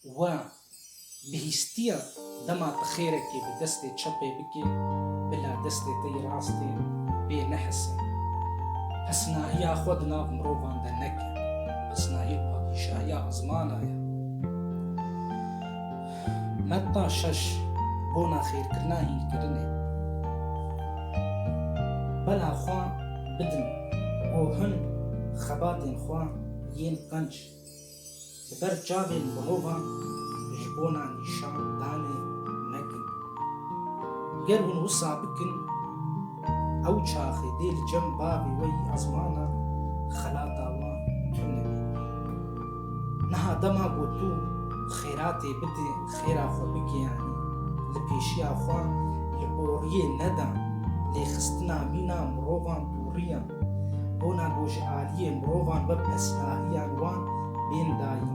We bihîstiya dema tu xêrekê bi destê çepê bikê, bila destê te yê rastê pê nehise. Pesnahiya xwe di nav mirovan de neke, pesnahî padîşahiya ezmana ye. Metta şeş, Bona xêrkirina hînkirinê. Bela xwe bidin bo hin xebatên xwe yên qenc. Li ber çavên mirovan ji bona nîşan danê nekin. Ger hûn wisa bikin, ew çaxê dê li cem bavê we yî ezmana xelata wan tune bê. Niha dema ku tu xêratê bidê, xêra xwe bigiyanî, li pêşiya xwe li boriyê nedan, lêxistina mîna mirovan dûriya. Bona ku ji aliyê mirovan ve pesnahiyan wan bên dayîn.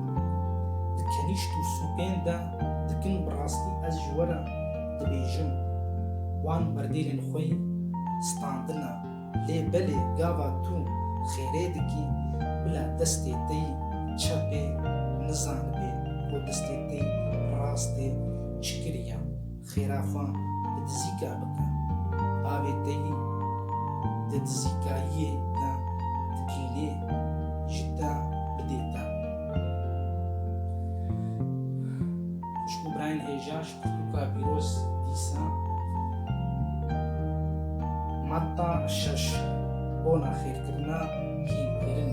Di kenîşt û sûpên de dikin bi rastî ez ji we re dibêjim. Wan berdêlên xwe yî standine. Lê belê gava tu xêrê dikî bila destê te yî çepê nizanibê ku destê te yî rastê çi kiriye. Xêra xwe bi dizîka bike. Avê te yî di dizîkayiyê de dikîlê, ji te bidê te. Xwişk û birayên hêja ji pirtûka pîroz dîsa. Madda şeş, Bona xêrkirina hînkirinê.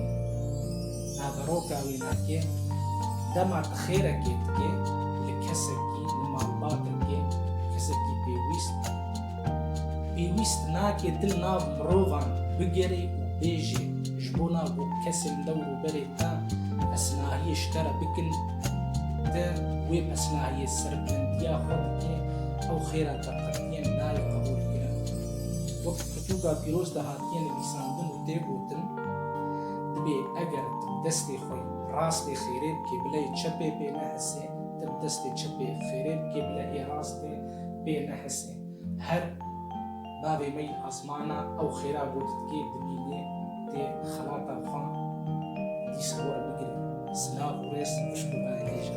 Naveroka wê nake dema tu xêrekê dikê li kesekî, li malbatekê, kesekî pêwîst, pêwîst nake tu li nav mirovan bigerî û bêjî ji bo na ku kesên dewr û berê te pesnahiyê ji te re bikin, tu wê pesnahiyê serbilindiya xwe dikê, ew xêra te qetiyên nayê qebûlkirin. Wek li pirtûka pîroz de hatiye nivîsandin û tê gotin. Dibê eger tu bi destê xwe rastê xêrê bikê bile yê çepê pê nehesê, tu bi destê çepê xêrê bikê bile yê rastê pê nehesê. Her bavê me yê asmana ew xêra ku didikê dibînê tê xelata xwe dîsa were bigirê. Silav û rêz pişt û berdêje.